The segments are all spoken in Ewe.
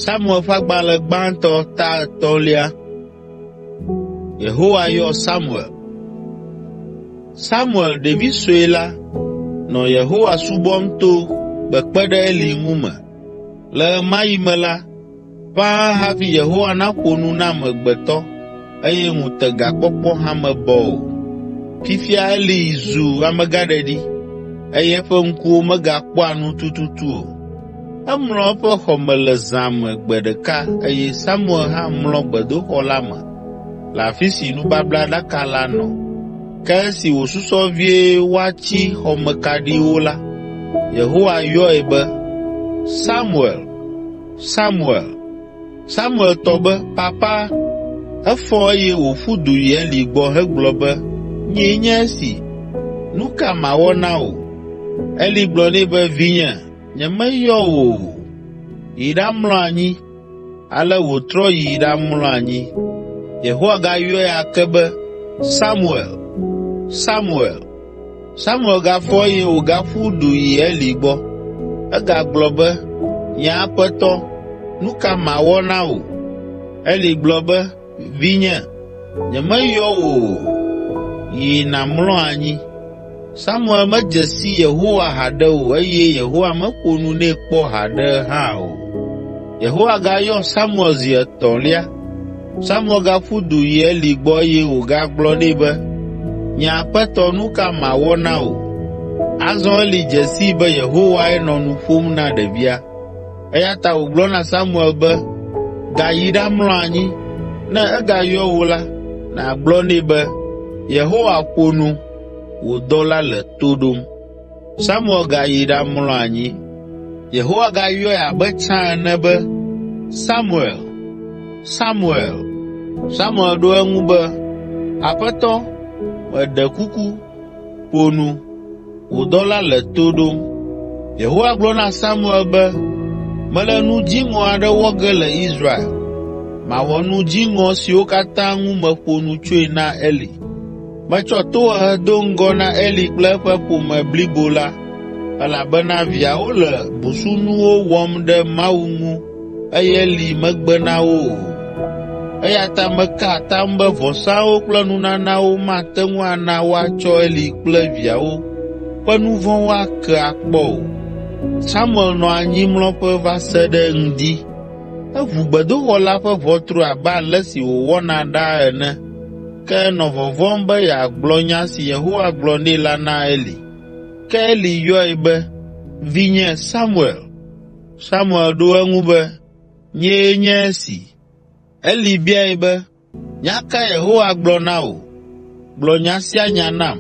Samuel ƒe agbalẽ gbãtɔ ta etɔ̃lia. Yehowa yɔ Samuel. Samuel ɖevi sue la nɔ Yehowa subɔm to kpekpe ɖe Eli ŋu me. Le ɣemaɣi me la, ƒãa hafi Yehowa naƒo nu na amegbetɔ eye ŋutegakpɔkpɔ hame bɔ o. Fifia Eli zu amegãɖeɖi eye eƒe ŋkuwo megakpɔa nu tututu o. Emlɔ eƒe xɔ me le zã me gbe ɖeka eye Samuel hã mlɔ gbedoxɔ la me le afi si nubablaɖaka la nɔ. Ke esi wòsusɔ vie woatsi xɔmekaɖiwo la, Yehowa yɔe be, “Samuel!” Samuel! Samuel tɔ be, Papa! Efɔ eye wòƒu du yi Eli gbɔ hegblɔ be, Nyee nye esi! Nu ka mawɔ na wò? Eli gblɔ nɛ be, Vinye, nyemeyɔ wò o. Yi ɖamlɔ anyi. Ale wòtrɔ yi ɖamlɔ anyi. Yehowa gayɔe ake be, Samuel! Samuel! Samuel gafɔ eye wògaƒu du yi Eli gbɔ. Egagblɔ be, “Nye aƒetɔ, nu ka mawɔ na wò?” Eli gblɔ be, “Vinye, nyemeyɔ wò o. Yi nàmlɔ anyi.” Samuel medze si Yehowa haɖe o eye Yehowa meƒo nu nɛ kpɔ haɖe hã o. Yehowa gayɔ Samuel zi etɔ̃lia Samuel gaƒu du yi Eli gbɔ eye wògagblɔ nɛ be, “Nye aƒetɔ, nu ka mawɔ na wò?” Azɔ Eli dze sii be Yehowae nɔ nu ƒom na ɖevia, eya ta wògblɔ na Samuel be, “Gayi ɖamlɔ anyi. Ne egayɔ wò la, nàgblɔ nɛ be, ‘Yehowa ƒo nu, wò dɔla le to ɖom.’ ” Samuel gayi ɖamlɔ anyi. Yehowa gayɔe abe tsã ene be, “Samuel! Samuel!” Samuel ɖo eŋu be, “Aƒetɔ, meɖe kuku, ƒo nu, wò dɔla le to ɖom.” Yehowa gblɔ na Samuel be, “Mele nu dziŋɔ aɖe wɔ ge le Israel. Mawɔ nu dziŋɔ siwo katã ŋu meƒo nu tsoe na Eli. Metsɔ tohehe do ŋgɔ na Eli kple eƒe ƒome blibo la elabena viawo le busunuwo wɔm ɖe Mawu ŋu eye Eli megbe na wo o. Eya ta meka atam be vɔsawo kple nunanawo mate ŋu ana woatsɔ Eli kple viawo ƒe nu vɔ̃wo ake akpɔ o. Samuel nɔ anyimlɔƒe va se ɖe ŋdi. Eʋu gbedoxɔ la ƒe ʋɔtru abe ale si wòwɔna ɖaa ene ke enɔ vɔvɔ̃m be yeagblɔ nya si Yehowa gblɔ nɛ la na Eli. Ke Eli yɔe be, “Vinye Samuel!” Samuel ɖo eŋu be, “Nyee nye esi.” Eli biae be, “Nya ka Yehowa gblɔ na wò? Gblɔ nya sia nya nam.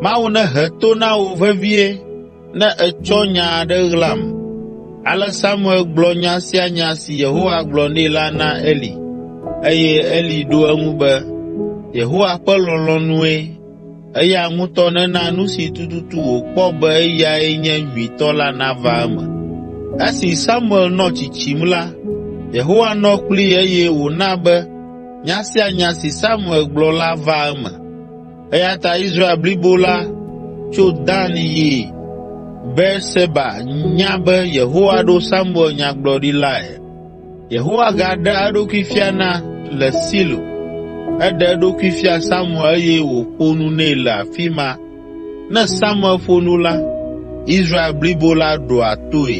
Mawu nehe to na wò vevie ne ètsɔ nya aɖe ɣlam.” Ale Samuel gblɔ nya sia nya si Yehowa gblɔ nɛ la na Eli eye Eli ɖo eŋu be, “Yehowa ƒe lɔlɔ̃nue, eya ŋutɔ nena nu si tututu wòkpɔ be eyae nye nyuitɔ la nava eme.” Esi Samuel nɔ tsitsim la, Yehowa nɔ kplii eye wòna be nya sia nya si Samuel gblɔ la va eme. Eya ta Israel blibo la, tso Dan yi Beerseba nya be Yehowa ɖo Samuel nyagblɔɖilae. Yehowa gaɖea eɖokui fiana le Silo. Eɖe eɖokui fia Samuel eye wòƒo nu nɛ le afi ma. Ne Samuel ƒo nu la, Israel blibo la ɖoa toe.